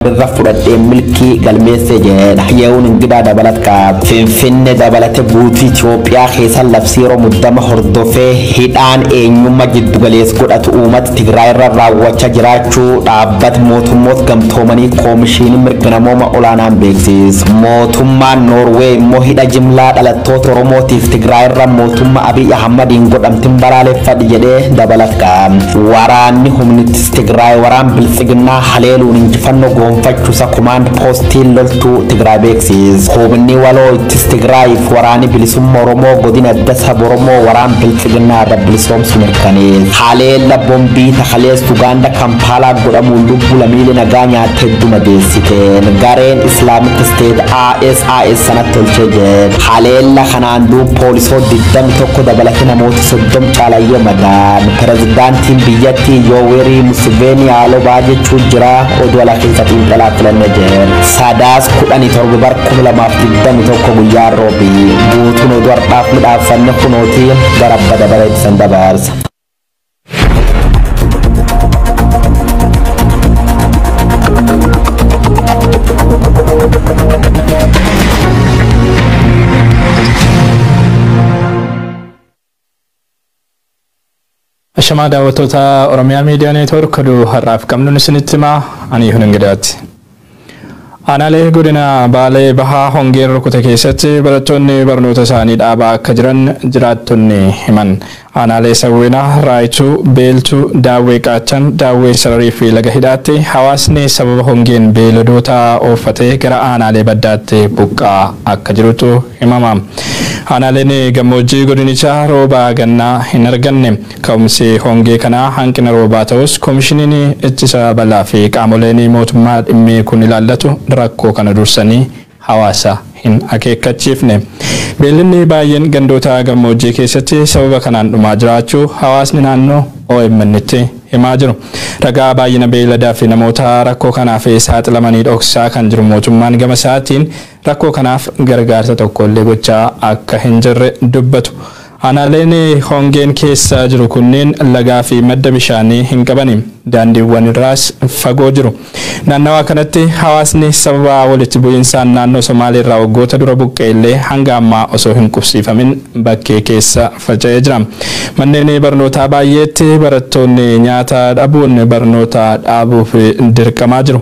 irra fudhadhee milkii galmeesse jedha yehuun ingidaa dabalat qaab finfinne dabalate guutuu Itoophiyaa keessa labsii yeroo muddama hordofee hidhaan eenyummaa jiddugalees godhatu uummata Tigraay irra raawwachaa jiraachuu dhaabbata mootummoota gamtoomanii koomishiinii mirga namooma olaanaan beeksiis mootummaan Noorwee immoo hidha jimlaa dhalattoota Oromootiif Tigraay irra mootummaa Abiy Ahmadiin godhamtin balaaleffadhe jedhee dabalat qaab waraanni humnitti Tigraay waraan biltsiginnaa haleeluun injifannoo goonfachuusa komaand poostiin loltuu Tigraay beeksiis. Huubinni waloo ittis Tigraayiif waraanii bilisumma Oromoo godina adda sab Oromoo waraan biltsiginnaa irra bilisoomsu mirkanees. Haleella bombii takaleessu Ugaanda Kampaalaa godhamuun lubbu lamiile nagaa nyaatte hedduu madeessiteen gareen Islaamik Isteet ISIS sanatti tolchee jedhe. Haleella kanaan duub poolisoo 21 dabalate namoot soddom caalaa yoo madaan pirezidaantiin biyyattii yoowerii musiveenii haaloo ba'aa jechuu jira oduu alaa keessa xiinxalaa filanne jeen saadaas kudhanii torba bar kuma lamaaf digdamii tokko guyyaa roobii guutuun oduu har'aaf midhaaffanne kunooti gara abba dabaree itti san dabarsa. Ashamaa daawwattoota Oromiyaa Miidiyaa Neetwoork oduu har'aaf qabnuun isinitti himaa ani Hunin Gidaati. Aanaalee godina Baalee Bahaa hongeen rukute keessatti barattoonni barnoota isaanii dhaabaa akka jiran jiraattonni himan. Aanaalee Sawweenaa, Raayituu, Beeltuu, Daawwee Qaachan, Daawwee Sararii fi Laga Hidhaatti hawaasni sababa hongeen beeyladoota ooffatee gara aanaalee baddaatti buqqaa akka jirutu himama. Aanaaleen gammoojjii godinichaa rooba gannaa hin arganne. Ka'umsi hongee kanaa hanqina roobaa ta'us Komishiniin Ittisa Balaa fi qaamoleen mootummaa dhimmi kun ilaallatu rakkoo kana dursanii hawaasa hin akeekkachiifne. Beeyladni baay'een gandoota gammoojjii keessatti sababa kanaan dhumaa jiraachuu hawaasni naannoo OMNtti himaa jiru. Ragaa baay'ina beeyladaa fi namoota rakkoo kanaaf saaxilamanii dhoksaa kan jiru mootummaan gama isaatiin Rakkoo kanaaf gargaarsa tokkollee gochaa akka hin jirre dubbatu. Aanaaleen hongeen keessa jiru kunneen lagaa fi madda bishaanii hin qabani. Daandiiwwan irraas fagoo jiru. Naannawaa kanatti hawaasni sababa walitti bu'iinsaan naannoo Somaalee irraa waggoota dura buqqa'e illee hanga ammaa osoo hin qubsiifamin bakkee keessa faca'ee jira. Manneen barnootaa baay'eetti barattoonni nyaata dhabuun barnoota dhaabuuf dirqamaa jiru.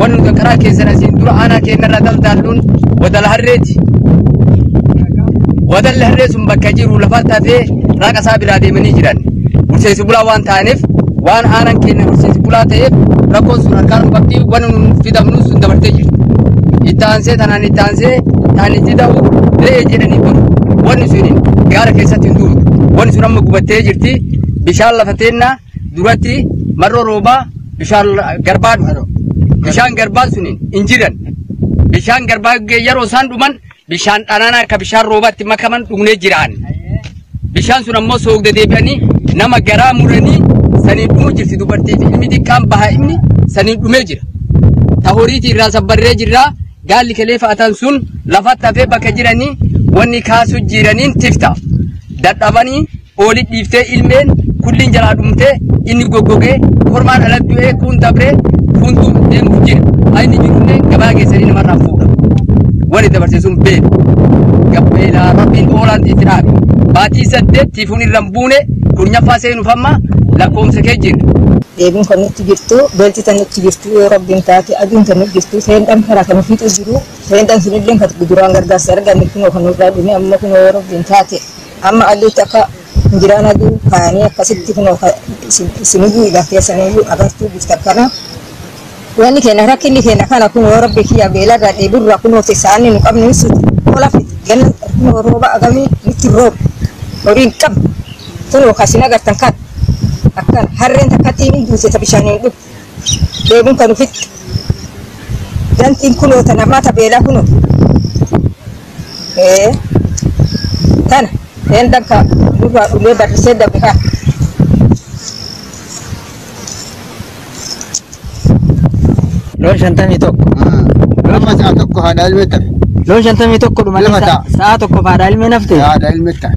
wan nuta karaa keessan asiin dura aanaa keenyarraa daldaalluun wadala harreeti. Wadalli harree sun bakka jiru lafa tafee raaqa isaa biraa deemanii jiran. Horsiisee bulaa waan ta'aniif waan aanaan keenya horsiisee bulaa ta'eef rakkoon sun harkaan nu qabdi waan nu fidamnu sun dabartee jirti. Itti aansee tanaan itti aansee taan itti ta'u re'ee jedhanii dur wanni sun gaara keessatti hin duutu. Wanni sun amma gubattee jirti bishaan lafa teennaa duratti marroo roobaa bishaan garbaa dhufu. Bishaan garbaan sun hin jiran. Bishaan garbaa yeroo isaan dhuman bishaan dhanaanaa akka bishaan roobaatti makaman dhugnee jiraan. Bishaan sun ammoo soogda deebi'anii nama garaa muranii saniin dhumuu jirti dubartii fi ilmi xiqqaan bahaa inni saniin dhumee jira. Ta horiitii irraa sabbarree jirra gaalli kelee fa'atan sun lafatti hafee bakka jiranii wanni kaasuu jiraniin tifta. Dadhabanii Oolid dhiiftee ilmeen kulliin jalaa dhumtee inni goggogee kormaan ala du'ee kuun dabree kuuntu deemuuf jira. Haa inni jirullee gabaa keessanii namarraa fuudha. Wani dabarsee sun beeku. Gabbeelaa rabbiin oolaan itti dhaabe. Baatii saddeet tiifuun irra hin buune kurnyaffaa seenuuf amma lakkoofsa kee jira. deebiin kan nutti jirtu beelti tan nutti jirtu yoo rabbiin taate aduun tan nutti jirtu seendhan karaa kan ofiitu jiru seendhan sunillee kan duraan gargaarsa arganne kunoo kan nurraa dhume amma kunoo yoo rabbiin taate Amma aduutti akka hin jiraan aduu kaanii akkasitti kunoo ka- isin- isiniyyuu idan keessaniyyuu agartuu jirtan kana wanni keenya rakkinni keenya kana kunoo rabbi kiyya beelarraa dheeburraa kunoo teessaanni nu qabnu hin suutu hola fiti ganna kunoo rooba agamii nutti rooba horii hin qabnu kunoo ka isin agartan kan akkan harreen takkatti hin duute ta bishaaniin dhufu dheebuun kan ufitti dantiin kunoo ta namaa ta beelaa kunoo Ee. Kana. Een dakka duuba ulee barrisee dabe kaa. Loon shantamii tokko. Lama sa'a tokko haadha ilmee tafe. Loon shantamii tokko dhumanii Lama ta'a. sa'a tokko haadha ilmee nafte. Haadha ilmee tafe.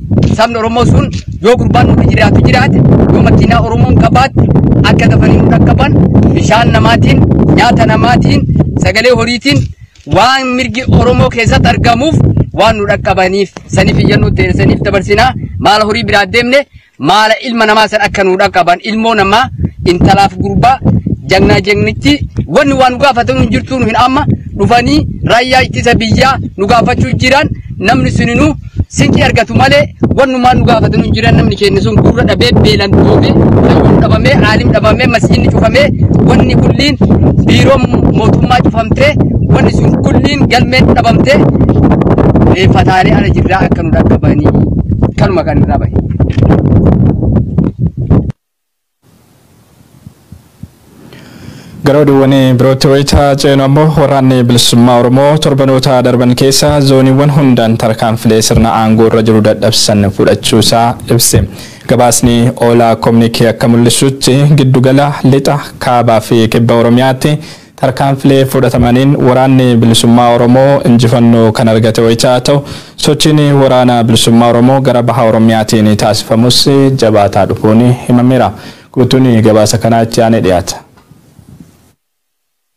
Sabni Oromoo sun yoo gurbaan nuti jiraatu jiraate yoo makiinaa Oromoon qabaatte akka dafanii nu dhaqqaban bishaan namaatiin nyaata namaatiin sagalee horiitiin waan mirgi Oromoo keessatti argamuuf waan nu dhaqqabaniif saniif iyyannoo ta'e saniif dabarsinaa maala horii biraa deemne maala ilma namaa san akka nu dhaqqaban ilmoo namaa intalaaf gurbaa jagnaa jagnitti wanni waan nu gaafatan hin jirtu nu hin amma dhufanii raayyaa ittisa biyyaa nu gaafachuu jiran namni suninu sinqii argatu malee wannumaa nu gaafatan hin jiran namni keenya sun gurra dhabee beelan duufe fayyuun dhabamee aalim dhabamee masjidni cufamee wanni kulliin biiroon mootummaa cufamtee wanni sun kulliin galmeen dhabamtee reeffataalee ala jirraa akka nu dhaqqabanii kanuma kan irraa bahe. Gara oduuwwan birootti wayita ceenu ammoo waraanni bilisummaa Oromoo torbanoota darban keessa zooniiwwan hundaan tarkaanfilee sirna aangoo irra jiru dadhabsisan fudhachuusaa ibse. Gabaasni Oolaa Kominikee akka mul'isutti giddugala lixa, kaabaa fi kibba Oromiyaatti Tarkaanfilee fudhatamaniin Waraanni Bilisummaa Oromoo injifannoo kan argate wayita ta'u, sochiin Waraana Bilisummaa Oromoo gara Baha Oromiyaatiin taasifamus jabaataa dhufuun himameera. Guutuun gabaasa kanaa itti aanee dhiyaata.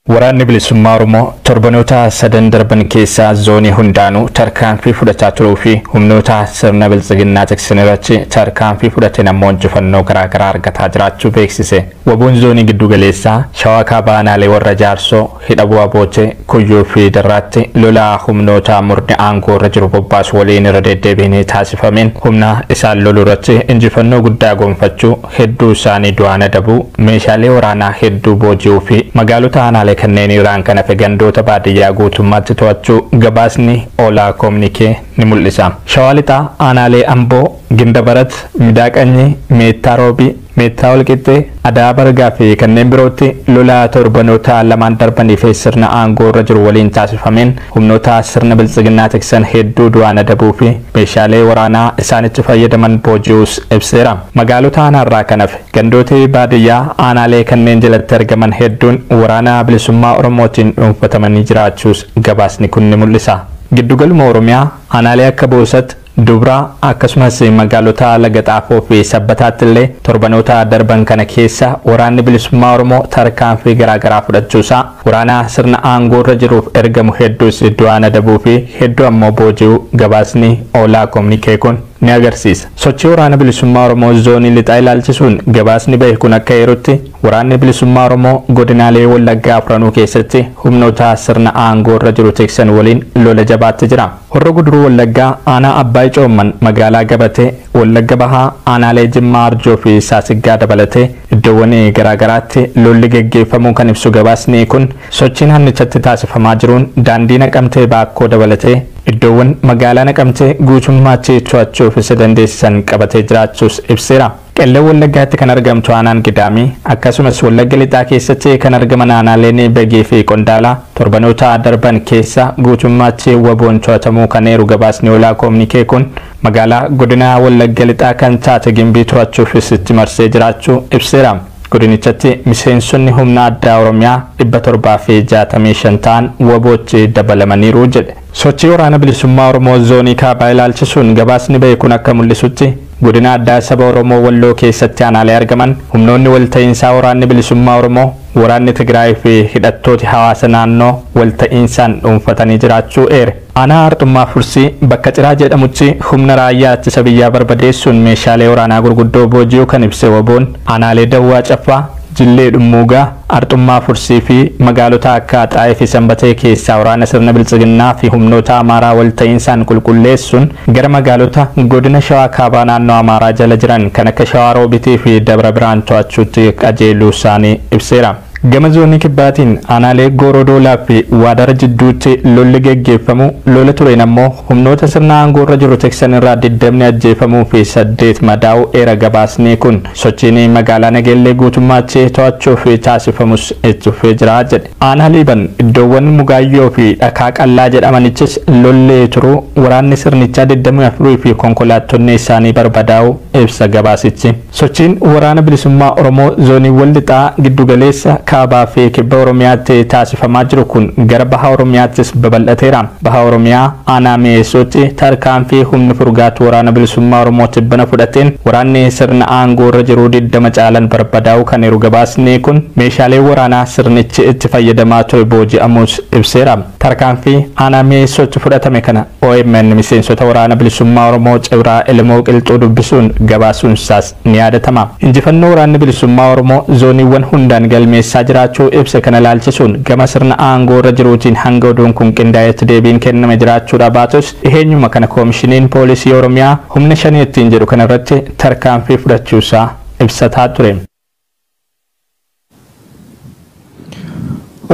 Waraanni Bilisummaa Oromoo torbanoota sadan darban keessa zoonii hundaanuu tarkaanfii fudhataa turuu fi humnoota sirna Biltsiginnaa tiksan irratti tarkaanfii fudhateen ammoo injifannoo garaagaraa argataa jiraachuu beeksise. Wbon Zoonii Giddu Galeessaa, Shawaa Kaabaa Aanaalee Warra Jaarsoo, Hidha Bu'a Bootee, Kuyyuu fi Darraatti lola humnoota murni aangoo irra jiru bobbaasu waliin irra deeddeebiin taasifameen humna isaan lolu irratti injifannoo guddaa gonfachuu, hedduu isaanii du'aan adabuu, meeshaalee waraanaa hedduu booji'uu fi magaalota aanaalee kanneenii irraan kan hafe gandoota baadiyyaa guutummaatti to'achuu gabaasni Ola Communique ni mul'isa. Shawaa Lixaa, Aanaalee Amboo, Gindabarat, Midaa Qanyii, Meettaa Roobii, Meettaa Walqixxee, Adaa Bargaa fi kanneen birootti lola torbanoota lamaan darbanii fi sirna aangoo irra jiru waliin taasifameen humnoota sirna biltsiginnaa tiksan hedduu du'aan adabuu fi meeshaalee waraanaa isaan itti fayyadaman booji'uus ibseera. Magaalota aanaarraa kan hafe gandooti baadiyyaa aanaalee kanneen jalatti argaman hedduun Waraana Bilisummaa Oromootiin dhuunfatamanii jiraachuus gabaasni kun ni mul'isa. Giddugaluma Oromiyaa aanaalee akka Boosat, Dubraa, akkasumas magaalota Laga Xaafoo fi Sabbataatti illee torbanoota darban kana keessa Waraanni Bilisummaa Oromoo tarkaanfii garaa garaa fudhachuu isaa, waraana sirna aangoo irra jiruuf ergamu hedduus du'aan adabuu fi hedduu ammoo booji'uu gabaasni Oolaa Kominikee kun ni agarsiisa. Sochii Waraana Bilisummaa Oromoo Zoonii Lixaa ilaalchisuun gabaasni bahe kun akka eerutti, Waraanni Bilisummaa Oromoo godinaalee Wallaggaa afranuu keessatti humnoota sirna aangoo irra jiru tiksan waliin lola jabaatti jira. Horro Guduruu Wallaggaa Aanaa Abbaay Coomman Magaalaa Gabatee, Wallagga Bahaa Aanaalee Jimmaa Arjoo fi Saasiggaa dabalatee iddoowwan garaa garaatti lolli geggeeffamuu kan ibsu gabaasni kun, sochiin aannichatti taasifamaa jiruun daandii Naqamtee Baakkoo dabalatee iddoowwan magaalaa Naqamtee guutummaatti to'achuuf isa dandeessisan qabatee jiraachuus ibseera. Qellem Wallaggaatti kan argamtu aanaan Gidaamii, akkasumas Wallagga Lixaa keessatti kan argaman aanaaleen Begii fi Qondaalaa torbanoota darban keessa guutummaatti wbo'n to'atamuu kan eeru gabaasni Olaa Koomnikee kun, magaalaa godina Wallagga Lixaa kan taate Gimbii to'achuufis itti marsee jiraachuu ibseera. Godinichatti miseensonni humna addaa Oromiyaa 765 ta'an wbo'tti dabalamaniiru jedhe. Sochii Waraana Bilisummaa Oromoo Zoonii Kaabaa ilaalchisuun gabaasni ba'e kun akka mul'isutti, Godina Addaa Saba Oromoo Walloo keessatti aanaalee argaman, humnoonni walta'iinsaa Waraanni Bilisummaa Oromoo, Waraanni Tigraay fi hidhattooti hawaasa naannoo walta'iinsaan dhuunfatanii jiraachuu eere. Aanaa Arxummaa Fursii bakka Ciraa jedhamutti humna raayyaa ittisa biyyaa barbadeessuun meeshaalee waraanaa gurguddoo booji'uu kan ibse wbo-n, aanaalee Dawwaa Caffaa, Jillee Dhummuugaa, Arxummaa Fursii fi magaalota akka Axaayee fi Sanbatee keessaa waraana sirna biltsiginnaa fi humnoota Amaaraa wal ta'iinsaan qulqulleessuun gara magaalota Godina Shawaa Kaabaa naannoo Amaaraa jala jiran kan akka Shawaa Roobitii fi Dabra Birhaan to'achuutti qajeeluu isaanii ibseera. Gama Zoonii Kibbaatiin aanaalee Gooroo Doolaa fi Waadara jidduutti lolli geggeeffamuu, lola tureen ammoo humnoota sirna aangoo irra jiru tiksan irraa 20 ajjeefamuu fi 8 madaa'uu eera gabaasnii kun. Sochiin magaalaa Nageellee guutummaatti to'achuuf taasifamus itti fufee jira jedhe. Aanaa Liiban iddoowwan Mugaayyoo fi Dhakaa Qallaa jedhamanittis lolli turuu, waraanni sirnichaa digdamii afur fi konkolaattonni isaanii barbadaa'uu ibsa gabaasichi. Sochiin Waraana Bilisummaa Oromoo zooniiwwan Lixaa, Giddu Galeessa, Kaabaa fi Kibba Oromiyaatti taasifamaa jiru kun gara Baha Oromiyaattis babal'ateera. Baha Oromiyaa aanaa Mi'eessootti tarkaanfii humni furgaatu Waraana Bilisummaa Oromoo tibbana fudhateen waraanni sirna aangoo irra jiruu 20 caalan barbadaa'uu kan eeru gabaasni kun, meeshaaleen waraanaa sirnichi itti fayyadamaa ture booji'amuus ibseera. Tarkaanfii aanaa Mi'eessootti fudhatame kana omn miseensota Waraana Bilisummaa Oromoo Cibraa Elemoo Qilxuu dubbisuun gabaasuun isaas. ni yaadatama. Injifannoo Waraanni Bilisummaa Oromoo zooniiwwan hundaan galmeessaa jiraachuu ibse kana ilaalchisuun gama sirna aangoo irra jiruutiin hanga oduun kun qindaa'etti deebiin kenname jiraachuudhaa baatus dhiheenyuma kana Komishiniin Poolisii Oromiyaa humna Shanee ittiin jedhu kanarratti tarkaanfii fudhachuusaa ibsataa ture.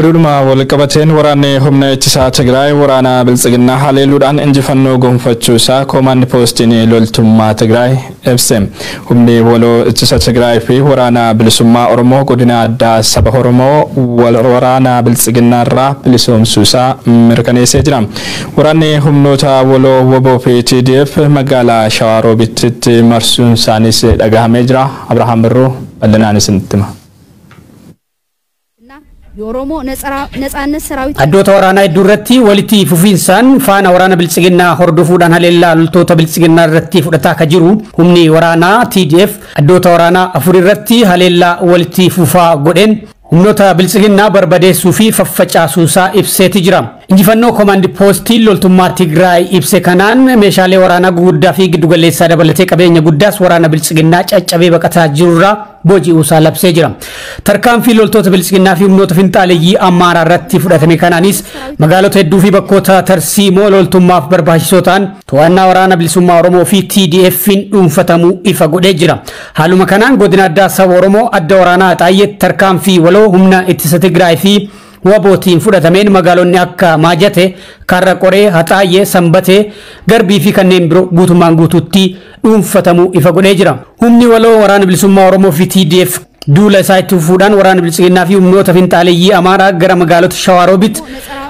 Oduudhuma walqabateen waraanni humna ittisaa Tigraay waraana biltsiginnaa haleeluudhaan injifannoo gonfachuu isaa koomaandi poostiin loltummaa Tigraay ibse. Humni waloo ittisa Tigraay fi waraana bilisummaa Oromoo godina addaa saba Oromoo waraana biltsiginnaa irraa bilisoomsuu isaa mirkaneessee jira. Waraanni humnoota waloo wbo fi TDF magaalaa Shawaa Roobittitti marsuun isaaniis dhagahamee jira. Abrahaam Birruu bal'inaan isinitti hima. Addoota waraanaa hedduu irratti walitti fufiinsaan faana waraana Biltsiginnaa hordofuudhaan haleellaa loltoota Biltsiginnaa irratti fudhataa akka jiru humni waraanaa TDF addoota waraanaa afur irratti haleellaa walitti fufaa godheen humnoota biltsiginnaa barbadeessuu fi faffacaasuusaa ibseeti jira. Injifannoo Komaandi Poostiin loltummaa Tigraay ibse kanaan meeshaalee waraanaa guguddaa fi giddugaleessaa dabalatee qabeenya guddaas waraana biltsiginnaa caccabee baqataa jirurraa booji'uusaa labsee jira. Tarkaanfii loltoota biltsiginnaa fi humnoota finxaaleyyii Amaaraa irratti fudhatame kanaanis magaalota hedduu fi bakkoota tarsiimoo loltummaaf barbaachisoo ta'an To'annaa Waraana Bilisummaa Oromoo fi TDF'n dhuunfatamuu ifa godhee jira. Haaluma kanaan Godina Addaa Saba Oromoo Adda Waraanaa Axaayyeetti tarkaanfii waloo humna ittisa Tigraay fi wabootiin fudhatameen magaalonni akka Maajate, Karra Qoree, Haxaayyee, Sanbatee, Garbii fi kanneen biroo guutummaan guutuutti dhuunfatamuu ifa godhee jira. Humni waloo Waraana Bilisummaa Oromoo fi TDF duula isaa itti fufuudhaan waraana biltsiginnaa fi humnoota finxaaleyyii Amaaraa gara magaalota Shawaa Roobit,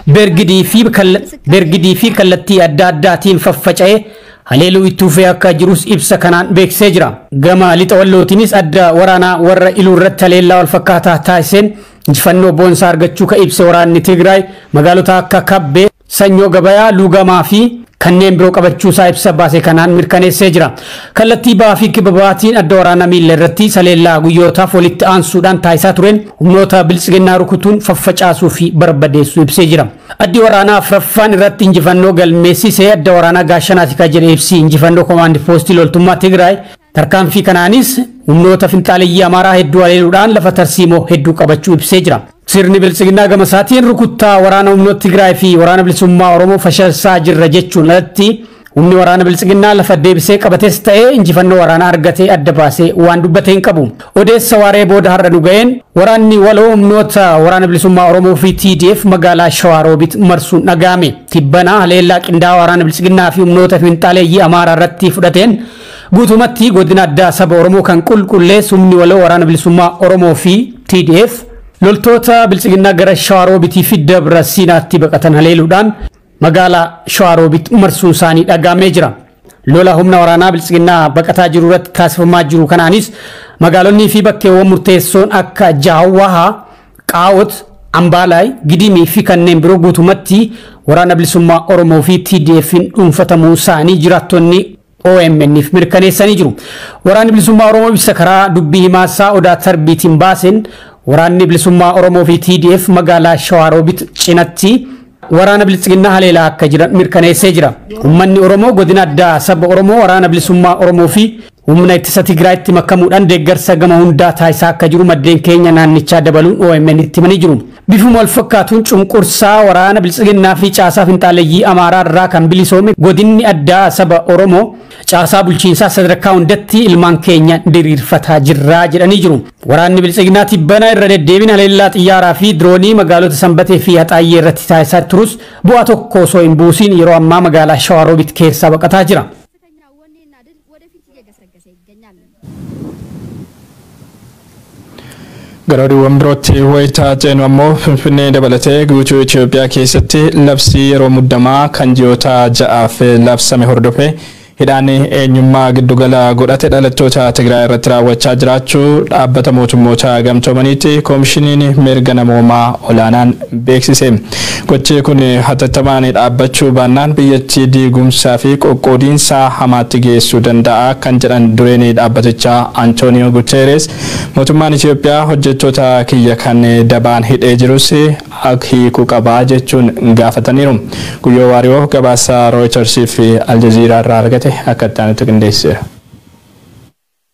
Bergidii fi kalla- Bergidii fi kallattii adda addaatiin faffaca'ee haleeluu itti fufee akka jirus ibsa kanaan beeksisee jira. Gama lixa wallootiinis adda waraanaa warra iluu irratti haleellaa wal fakkaataa taasiseen injifannoo boonsaa argachuu ka ibse waraanni Tigraay magaalota akka Kabbee, Sanyoo Gabayaa, Luugamaa fi kanneen biroo qabachuusaa ibsa baase kanaan mirkaneessee jira. Kallattii bahaa fi kibba bahaatiin adda waraanaa miilla irratti saleellaa guyyootaaf walitti aansuudhaan taasisaa tureen humnoota biltsiginnaa rukutuun faffacaasuu fi barbadeessuu ibsee jira. Addi waraanaa afraffaan irratti injifannoo galmeessise adda waraanaa Gaashanaatika jedhe ibsi injifannoo komaandi poostii loltummaa Tigraay Tarkaanfii kanaanis humnoota finxaaleyyii Amaaraa hedduu haleeluudhaan lafa tarsiimoo hedduu qabachuu ibsee jira. Sirni Biltsiginnaa gama isaatiin rukuttaa waraana humnoota Tigraay fi waraana bilisummaa Oromoo fashalsaa jirra jechuun alatti humni waraana Biltsiginnaa lafa deebisee qabates ta'ee injifannoo waraanaa argatee adda baasee waan dubbate hin qabu. Odeessa waaree booda har'a nu ga'een waraanni waloo humnoota waraana bilisummaa Oromoo fi TDF magaalaa Shawaa Roobit marsuun dhaga'ame. Tibbana haleellaa qindaa'aa waraana Biltsiginnaa fi humnoota finxaaleyyii Amaaraa irratti fudhateen Guutumatti Godina Addaa Saba Oromoo kan qulqullees Humni Waloo Waraana Bilisummaa Oromoo fi TDF loltoota Biltsiginnaa gara Shawaa Roobitii fi Dabra Siinaatti baqatan haleeluudhaan magaalaa Shawaa Roobit marsuun isaanii dhagaamee jira. Lola humna waraanaa Biltsiginnaa baqataa jiru irratti taasifamaa jiru kanaanis magaalonnii fi bakkeewwan murteessoon akka Jaawwahaa, Qaawot, Ambaalaay, Gidimii fi kanneen biroo guutumatti Waraana Bilisummaa Oromoo fi TDF'n dhuunfatamuu isaanii jiraattonni OMN'f mirkaneessanii jiru. Waraanni Bilisummaa Oromoo ibsa karaa dubbii himaa isaa Odaa Tarbiitiin baaseen Waraanni Bilisummaa Oromoo fi TDF magaalaa Shawaa Roobit cinatti waraana Biltsiginnaa haleelaa akka jiran mirkaneessee jira. Ummanni Oromoo godina addaa saba Oromoo waraana Bilisummaa Oromoo fi humna ittisa Tigraayitti makamuudhaan deeggarsa gama hundaa taasisaa akka jiru maddeen keenya naannichaa dabaluun OMN'tti himanii jiru. Bifuma walfakkaatuun cunqursaa waraana Biltsiginnaa fi caasaa finxaaleyyii Amaaraa irraa kan bilisoome Godinni Addaa Saba Oromoo caasaa bulchiinsaa sadarkaa hundatti ilmaan keenya diriirfataa jirra jedhanii jiru. Waraanni Biltsiginnaa tibbana irra deddeebiin haleellaa xiyyaaraa fi diroonii magaalota Sanbatee fi Haxaayyee irratti taasisaa turus bu'aa tokko osoo hin buusiin yeroo ammaa magaalaa Shawaa Roobit keessaa baqataa jira. Gara oduuwwan birootti wayita ceenu ammoo Finfinnee dabalatee guutuu Itoophiyaa keessatti labsii yeroo muddamaa kan ji'oota ja'aaf labsame hordofee hidhaan eenyummaa giddugala godhate dhalattoota Tigraay irratti raawwachaa jiraachuu dhaabbata mootummoota gamtoomaniitti koomishiniin mirga namoomaa olaanaan beeksise. Gochi kun hatattamaan dhaabbachuu baannaan biyyattii diigumsaa fi qoqqoodiinsa hamaatti geessuu danda'a kan jedhan dureen dhaabbatichaa Antooniyoo Guteerees mootummaan Itiyoophiyaa hojjettoota kiyya kan dabaan hidhee jirus ak hiiku qaba jechuun gaafataniiru. Guyyoo Waariyoo gabaasa Rooyitarsiif Aljaziiraarraa argate akka itti aanutti qindeesseera.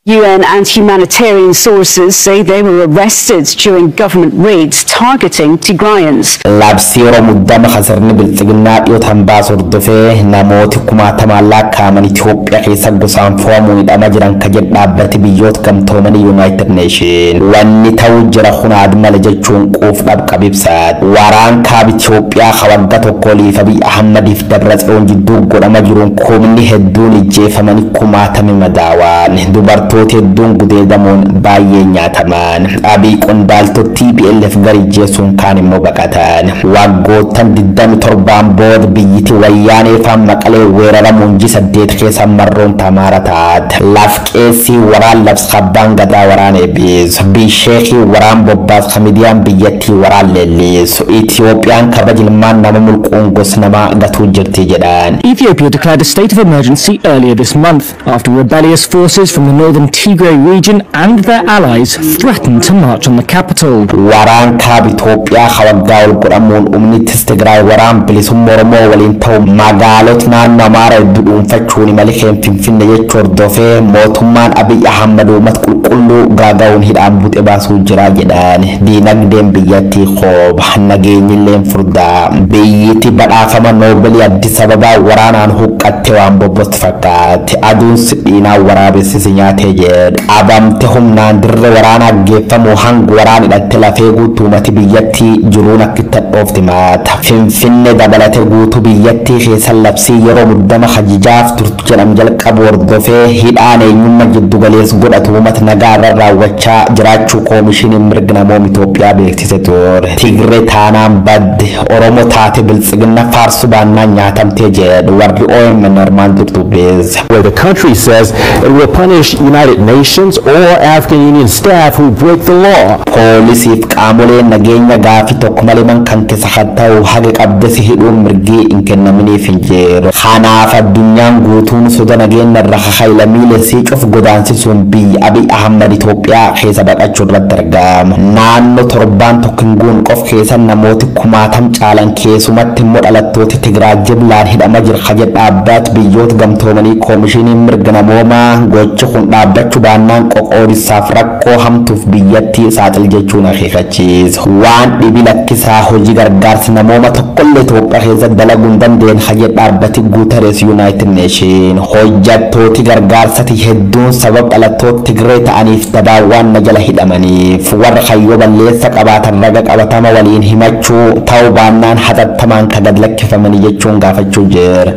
UN and humanitarian sources say they were arrested during government raids targeting Tigrayans. Labsii yeroo muddama kan sirni bilxiginnaa dhiyootaan baase hordofee namooti kumaatamaan laakkaa'aman Itoophiyaa keessa gosaan fo'amuun hidhama jiran ka jedhe dhaabbati biyyoot gamtoomanii Yunaayitid Neeshin. Wanni ta'u jira kun aadmale jechuun quuf dhabqab ibsaat. Waraan kaab Itoophiyaa ka wagga tokko oliif Abiy Ahmadiif Dabratsiyoon jidduu godhama jiruun kumni hedduun ijjeefamanii kumaatami madaawaan, dubartooti hedduun gudeedamuun baayyeen nyaatamaan, Abiy qondaaltot tplf gar ijjeessuun kaan immoo baqatan. Waaggoottan 27n bood biyyiti Wayyaanee faan Maqalee weeraramuun ji 8 keessa marroon ta Amaara taat. Laf qeessii waraan labs kAbbaan Gadaa waraan eebbis. Bi sheekii waraan bobbaas ka midiyaan biyyattii waraan leellis. Itiyoophiyaan kabaja ilmaan nama mulquun gos namaa gatuu jirti jedhan. Ethiopia declared a state of emergency earlier this month after rebellious forces from the northern Tigray region and their allies threatened to march on the capital. Waraan Kaaba Itoophiyaa ka waggaa ol godhamuun umni tis Tigraay waraan bilisumma Oromoo waliin ta'u magaalot naannoo Amaara heddu dhuunfachuun imali keen Finfinne jechu hordofee mootummaan Abiy Ahammad uumat qulqulluu gaaga'uun hidhaan buxe baasuu jira jedhan. Diinagdeen biyyatti. Tii koo baha nageenyilleen furdaa biyyiti badhaafama noobelii addis ababaa waraanaan huqqatte waan bobbostu fakkaatte aduun sidhiinaa waraabessi si nyaatee jeedhe qabamte humnaan dirre waraanaa geeffamuu hang waraan hidhatte lafee guutuumati biyyatti jiruun akkitti hadhoofte maata finfinne dabalate guutuu biyyattii keessa labsii yeroo muddama hajijaaf turte jedhamu jalqabu hordofee hidhaan eenyumma jiddu galeess godhatu uumat nagaa irra raawwachaa jiraachuu Koomishiniin Mirg Namoom Itoophiyaa beeksise ture. Tigre taanaan badde, Oromo taate Biltsiginna faarsu baannaan nyaatamte jedhu warri omn armaan dur dubbise. where the country says it will punish United Nations or African Union staff who break the law. Poolisiif qaamoleen nageenya gaafi tokko malee man kan sakatta'uuf haga qabde si hidhuun mirgi hin kennaminiif hin jiru. Kanaaf addunyaan guutuun soda nageenna irra ka ka'e lamiile isii cuf godaansisuun biyyi Abiy Ahmad Itoophiyaa keessa baqachu irratti argama. Naanno torbaan tokko hin guun qof keessa namooti kumaatam caalan keesumatti immo dhalattooti Tigraay jiblaan hidhama jira ka jedhe dhaabbaat biyyoot gamtoomanii Koomishiniin mirga namoomaa gochi kun dhaabbachu baannaan qoqoodissaaf rakkoo hamtuuf biyyatti saaxil jechuun akeekachise. Cheese waan dhibi lakkisaa hoji gargaarsa namooma tokkolle Itoophiya keessa dalagu hin dandeen ka jedhe dhaabbati Guterres United Nation hojjattooti gargaarsati hedduun sabab dhalattoota Tigree ta'aniif dabaan waan na jala hidhamaniif warra kayyoo balleessa qabaatan raga qabatama waliin himachuu ta'u baannaan hatattamaan ka gad lakkifamani jechuun gaafachuu jira.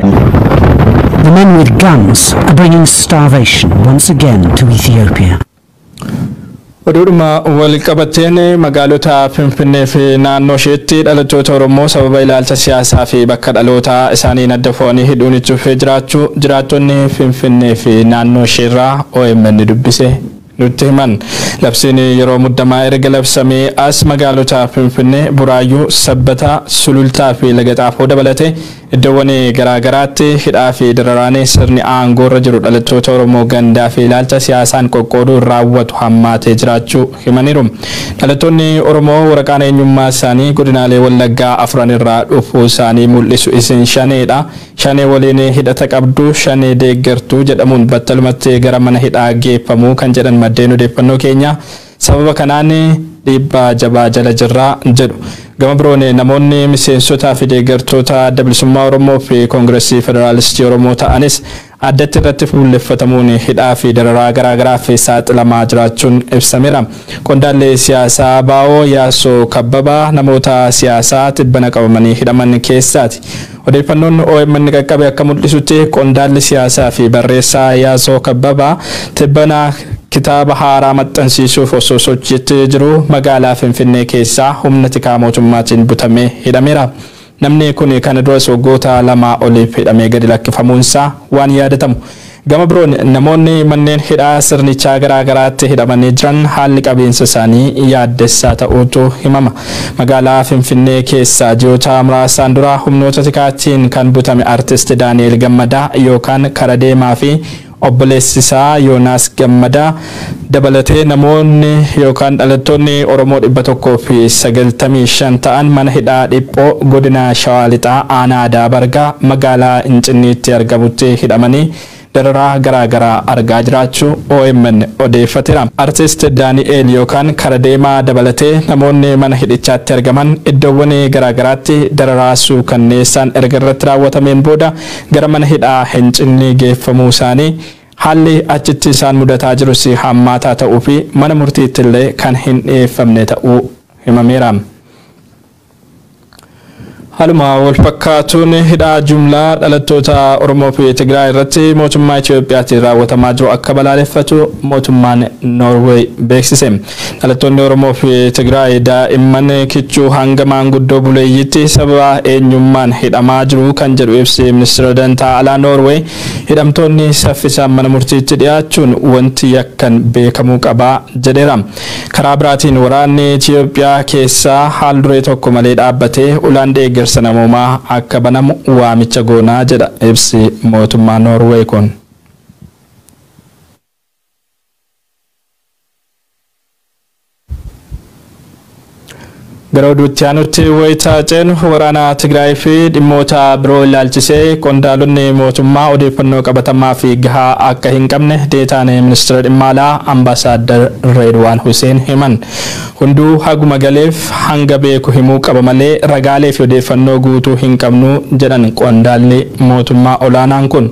The men with guns are bringing starvation once again to Ethiopia. Oduudhuma walqabateen magaalota Finfinnee fi naannoo isheetti dhalattoota Oromoo sababa ilaalcha siyaasaa fi bakka dhalootaa isaaniin adda fo'anii hidhuun itti fufee jiraachuu jiraattonni Finfinnee fi naannoo isheerraa omn dubbise nutti himan. Labsiin yeroo muddamaa erga labsamee as magaalota Finfinnee, Buraayyuu, Sabbataa, Sulultaa fi Laga Xaafoo dabalatee Iddoowwan garaa garaatti hidhaa fi dararaan sirni aangoo irra jiru dhalattoota Oromoo gandaa fi ilaalcha siyaasaan qoqqooduun raawwatu hammaatee jiraachuu himaniiru. Dhalattoonni Oromoo waraqaan eenyummaa isaanii godinaalee Wallaggaa afran irraa dhufuu isaanii mul'isu isin Shanee dha, Shanee waliin hidhata qabdu, Shanee deeggartu jedhamuun battalumatti gara mana hidhaa geeffamu kan jedhan maddeen odeeffannoo keenyaa, Sababa kanaan dhiibbaa jabaa jala jirra, jedhu. Gama biroon namoonni miseensotaa fi deeggartoota Adda Bilisummaa Oromoo fi Kongirasii Federaalistii Oromoo ta'anis addatti irratti fuulleffatamuun hidhaa fi dararaa garaa garaaf saaxilamaa jiraachuun ibsameera. Qondaalli siyaasaa ABO Yaassoo Kabbabaa namoota siyaasaa tibbana qabamanii hidhaman keessaati. Odeeffannoon omn qaqqabe akka mul'isutti qondaalli siyaasaa fi barreessaa Yaasoo Kabbabaa tibbana kitaaba haaraa maxxansiisuuf osoo sochiitti jiruu magaalaa Finfinnee keessaa humna tikaa mootummaatiin butamee hidhameera. Namni kun kana duras waggoota lamaa oliif hidhamee gadi lakkifamuunsaa waan yaadatamu. Gama biroon namoonni manneen hidhaa sirnichaa garaa garaatti hidhamanii jiran haalli qabiinsa isaanii yaaddessaa ta'uutu himama. Magaalaa Finfinnee keessaa ji'oota muraasaan dura humnoota tikaatiin kan butame Artist Daani'eel Gammadaa yookaan Karadeemaa fi obboleessisaa Yoonaas Gammadaa dabalatee namoonni yookaan dhalattoonni Oromoo 195 ta'an mana hidhaa Dhiphoo godina Shawaa Lixaa aanaa Adaa Bargaa magaalaa Incinniitti argamutti hidhamanii dararaa garaa garaa argaa jiraachuu omn odeeffateera. Artist Daani'eel yookaan Kara Deemaa dabalatee namoonni mana hidhichaatti argaman iddoowwan garaa garaatti dararaa suukanneessaan erga irratti raawwatameen booda gara mana hidhaa Hincinnii geeffamuu isaanii Haalli achitti isaan mudataa jirus hammaataa ta'uu fi mana murtiittillee kan hin dhiyeeffamne ta'uu himameera. Haaluma walfakkaatuun hidhaa jumlaa dhalattoota Oromoo fi Tigraay irratti mootummaa Itoophiyaatiin raawwatamaa jiru akka balaaleffatu mootummaan Noorweey beeksise. Dhalattoonni Oromoo fi Tigraay daa'imman kichuu hanga maanguddoo buleeyyiitti sababa eenyummaan hidhamaa jiru kan jedhu ibsi Ministeera Dantaa Alaa Noorweey Hidhamtoonni saffisaan mana murtiitti dhiyaachuun wanti yakkan beekamuu qaba jedheera. Karaa biraatiin waraanni Itiyoophiyaa keessaa haal duree tokko malee dhaabbatee ulaan deeggarsa namoomaa akka banamu waamicha goona jedha ibsi mootummaa Noorweey kun. Gara oduutti aanutti wayita ceenu waraana Tigraay fi dhimmoota biroo ilaalchisee qondaalonni mootummaa odeeffannoo qabatamaa fi gahaa akka hin qabne deetaan ministeera dhimma alaa ambaasaaddar Reedwaan Huseen himan. Hunduu haguma galeef hanga beeku himuu qaba malee ragaalee fi odeeffannoo guutuu hin qabnu jedhan qondaalli mootummaa olaanaan kun.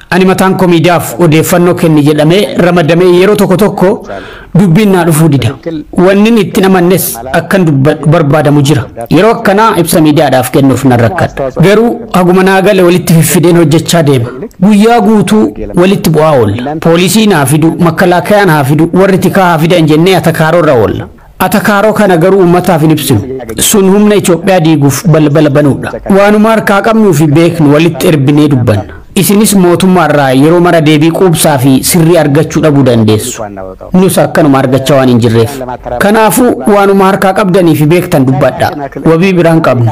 Ani mataan koo miidiyaaf odeeffannoo kenni jedhamee ramadamee yeroo tokko tokko dubbiin naa dhufuu dida. Wannin ittin amannes akkan dubbadhu barbaadamu jira. Yeroo akkanaa ibsa miidiyaadhaaf kennuuf nan rakkadha. Garuu haguma naa gale walitti fiffideen hojjechaa deema. Guyyaa guutuu walitti bu'aa oolla. Poolisii naa fidu, makkalaakayaan haa fidu, warri tikaa haa fidan jennee atakaaroo irra oolla. Atakaaroo kana garuu uummataaf hin ibsinu. Sun humna Itoophiyaa diiguuf balbala banuudha. Waanuma harkaa qabnuu fi beeknu walitti erbinee dubbanna. Isinis mootummaa irraa yeroo mara deebii quubsaa fi sirrii argachuu dhabuu dandeessu. Nus akkanuma argachaa waan hin jirreef. Kanaafuu, waanuma harkaa qabdanii fi beektan dubbadhaa. Wabii biraa hin qabnu.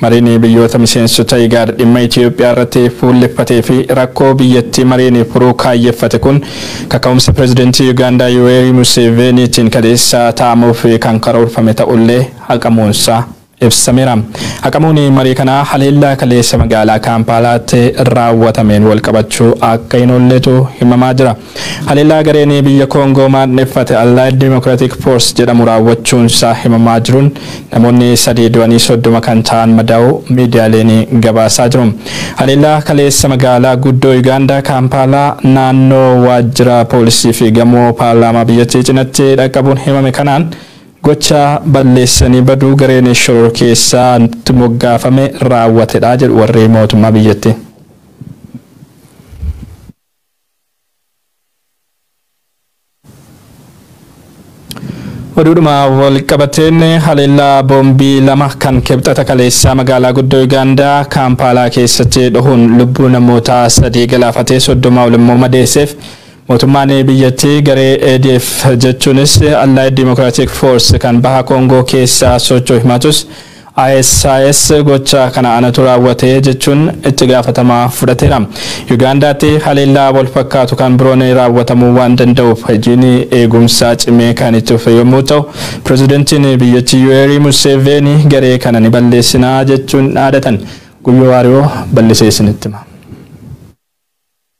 Mariin biyyoota miseensota IGAD dhimma Itiyoophiyaa irratti fuulleffatee fi rakkoo biyyattii mariin furuu kaayyeffate kun kaka'umsa Pireezidantii Yugaandaa Yuweerii Museeveeniitiin kaleessa taa'amuuf kan karoorfame ta'ullee haqamuunsaa ibsameera. Haqamuun marii kanaa haleellaa kaleessa magaalaa Kaampaalaatti raawwatameen walqabachuu akka hin oolletu himamaa jira. Haleellaa gareen biyya Koongoo maandheffate Allied Democratic Force jedhamu raawwachuunsaa himamaa jiruun namoonni sadii du'anii 30 kan ta'an madaa'uu miidiyaaleen gabaasaa jiru. Haleellaa kaleessa magaalaa guddoo Yugaandaa Kaampaalaa naannoo waajjira poolisiifi gamoo paarlaamaa biyyattii cinatti dhaqqabuun himame kanaan gocha balleessanii baduu gareen shororkeessaa itti moggaafame raawwatedha jedhu warri mootummaa biyyattii. Oduudhuma walqabateen haleellaa boombii lama kan kibxata kaleessaa magaalaa guddoo Yugaandaa Kaampaalaa keessatti dhohuun lubbuu namoota sadii galaafatee soddoma ol immoo madeesseef mootummaan biyyattii garee ADF jechuunis Allied Democratic Force kan baha Koongoo keessaa socho'u himaatus ISIS gocha kana anatu raawwate jechuun itti gaafatama fudhateera. Yugaandaatti haleellaa wal fakkaatu kan biroon raawwatamuu waan danda'uuf hojiin eegumsaa cimee kan itti fufe yommuu ta'u, pirezidantiin biyyattii Yuweerii Museeveenii garee kana ni balleessina jechuun dhaadatan. Guyyoo Waariyoo bal'isee isinitti hima.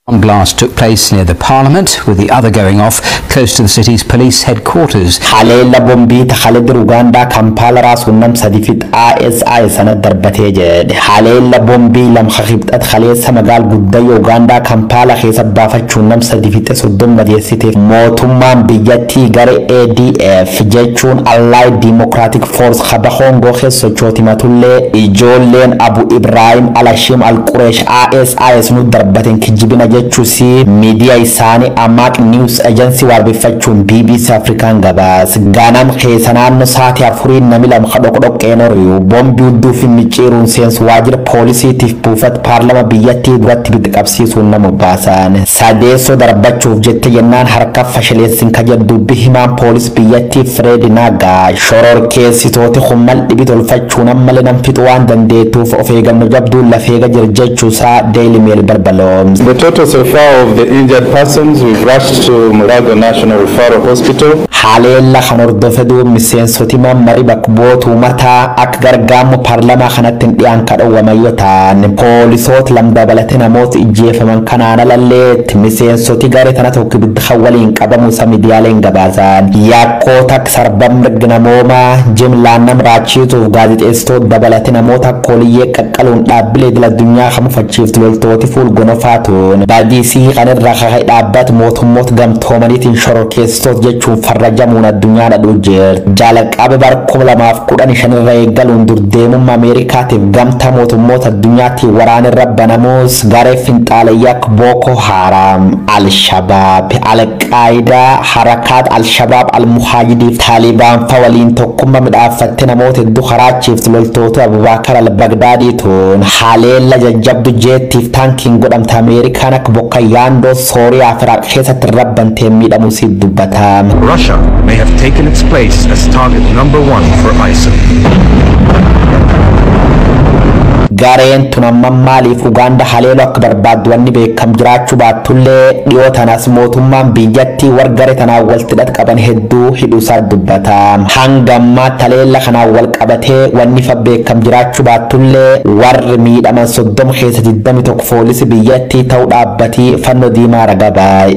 One blast took place near the Parliament, with the other going off close to the city's police headquarters. Haleella bombii ta Khalid Rugaandaa Kampaala raasuun nam sadi fix ISI sana darbatee jedhe. Haleella bombii lam ka Kibxat kaleessa magaal guddayyo Ugaandaa Kampaala keessa baafachuun nam sadi fixe 30 madeessite mootummaan biyyattii gare ADF jechuun Allied Democratic Force ka Baha Koongoo keessa sochooti himatullee ijoolleen Abu Ibraahim Alashim Alquresh AS AS nu darbaten kijibina jechusi midiya isaani Amaaq News Agency waabeffachuun bbc African gabaas. Gaanam keesa naanno saati afuriin nami lama ka dhoqdhoqqeen oriyu bombi udduufi micciiruun seensu waajira poolisiitif buufat paarlama biyyatti duratti ibidda qabsiisuun nama obaasaan. Sadeesso darbachuuf jette jennaan harka fashaleessin ka jedhu dubbi himaan poolis biyyatti Fred Nagga shororkeessitooti kun mal dhibi tolfachuu Tun ammale nam fixu waan dandeetuuf of eeganno jabduun laf eega jir jechu saa Daily Mail barbaloomse. The total so far of the injured persons we've rushed to Mulago National Referral Hospital. Haleella kan hordofe duub miseensoti man mari bak bu'oota umataa ak gargaammo parlamaa kanatti hin dhiyaan ka dhowwaman yo taan, poolisoot lam dabalate namoot ijjeefaman kanaan alalleett miseensoti gare tana tokko ibidda kan waliin qabamu sa midiyaaleen gabaasaan. Yakkoota. Sarba mirg namoomaa jimlaan nam raachiituuf gaazexeessitoot dabalate namoota akka Oliyyee qaqqaluun dhaabbilee idil addunyaa ka mufachiiftu loltooti fuul gonofaa tuun badiisii kan irra ka ka'e dhaabbat mootummoot gamtoomaniitiin shororkeessitoot jechuun farrajamuun addunyaa dhadhuu jirt. Jalaqaba bar 2015 irra eeggaluun dur deemumma Ameerikaatiif gamtaa mootummoot addunyaatiin waraan irra banamuus garee finxaaleyyaa akka Bookoo Haaraam, Al Shabaab, Al Qaayidaa, Harakaat Al-Shabaab Al-Muhaajidiif Taalibaanfa waliin tokkumma midhaaffatte namoota heddu karaachiiftu loltootu Abubaakar Al-Bagdaadii tuun haleella jajjabdu jeettiif taankiin godhamte Ameerikaan akka bokka yaandoo Sooriyaaf Iraaq keessatti irra banteen miidhamu isiit dubbata. Russia may have taken its place as target number one for ISIL. Gareen tun ammam maaliif Ugaanda haleelu akka barbaaddu wanni beekamu kam jiraachu baattullee dhiyoo tanas mootummaan biyyatti war gare tanaan waltti hidhat qaban hedduu hidhuusaa dubbata. Hanga ammaa taleella kanaan wal qabatee wanni fa beekam jiraachu baattullee warri miidhaman 30 keessa 21 foolisi biyyatti ta'u dhaabbati fanno diimaa raga baay.